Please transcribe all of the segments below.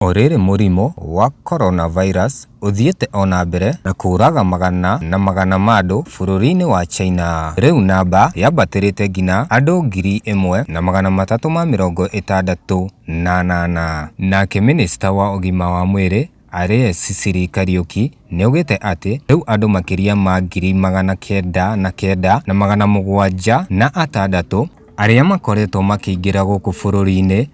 O rĩrĩ mũrimũ wa coronavirus ũthiĩte o na mbere na kũũraga magana na magana ma andũ bũrũri-inĩ wa China. Rĩu namba yambatĩrĩte nginya andũ ngiri ĩmwe na magana matatũ ma mĩrongo ĩtandatũ na anana. Nake mĩnĩcita wa ũgima wa mwĩrĩ Aries Cicely Kariuki nĩaugĩte atĩ rĩu andũ makĩria ma ngiri magana kenda na kenda na magana mũgwanja na atandatũ arĩa makoretwo makĩingĩra gũkũ bũrũri-inĩ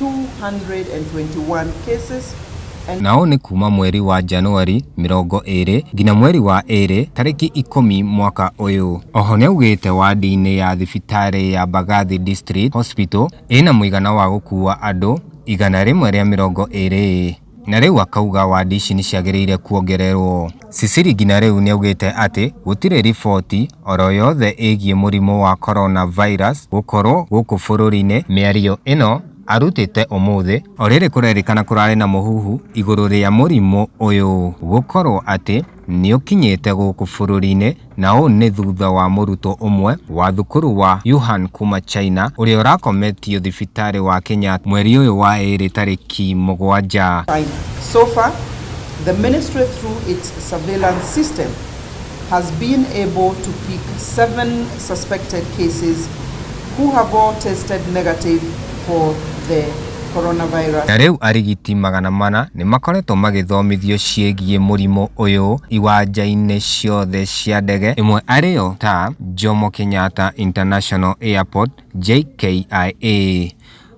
221 cases and Nao nĩ kuuma mweri wa Januari mĩrongo ĩrĩ nginya mweri wa ĩrĩ tarĩki ikũmi mwaka ũyũ. Oho nĩaugĩte wadi-inĩ ya thibitarĩ ya Mbagathi District Hospital ĩna mũigana wa gũkua andũ igana rĩmwe rĩa mĩrongo ĩrĩ. Na rĩu akauga wadi ici nĩ ciagĩrĩire kuongererwo. Sisiri nginya rĩu nĩ augĩte atĩ gũtirĩ riboti oro yothe ĩgiĩ mũrimũ wa Corona Virus gũkorwo gũkũ bũrũri-inĩ. Mĩario ĩno arutĩte ũmũthĩ. Orĩrĩ kũrerĩkana kũrarĩ na mũhuhu igũrũ rĩa mũrimũ ũyũ gũkorwo atĩ. Nĩũkinyĩte gũkũ bũrũri-inĩ na ũũ nĩ thutha wa mũrutwo ũmwe wa thukuru wa Yuhan kuma China ũrĩa ũrakometio thibitarĩ wa Kenyatta mweri ũyũ wa ĩrĩ tarĩki mũgwanja. China. So far, the ministry through its surveillance system has been able to pick seven suspected cases who have all tested negative for the coronavirus. Na rĩu arigiti magana mana nĩ makoretwo magĩthomithio ciĩgiĩ mũrimũ ũyũ iwanja-inĩ ciothe cia ndege, ĩmwe arĩ yo ta Jomo Kenyatta International Airport, JKIA.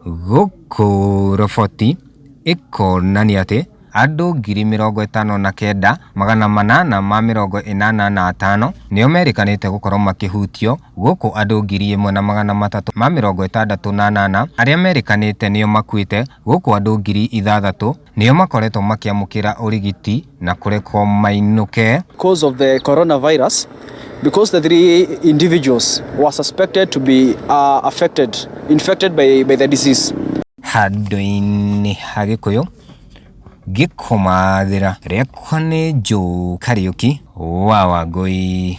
Gũkũ roboti ĩkonania atĩ. Andũ ngiri mĩrongo ĩtano na kenda, magana manana ma mĩrongo ĩnana na atano nĩo merĩkanĩte gũkorwo makĩhutio, gũkũ andũ ngiri ĩmwe na magana matatũ ma mĩrongo ĩtandatũ na anana arĩa merĩkanĩte nĩo makuĩte, gũkũ andũ ngiri ithathatũ nĩo makoretwo makĩamũkĩra ũrigiti na kũrekwo mainũke. Cause of the coronavirus because the three individuals were suspected to be affected, infected by the disease. Handũ-inĩ ha Gĩkũyũ. ngĩkũmathĩra rĩakwa nĩ njũũ kariũki wa wangũi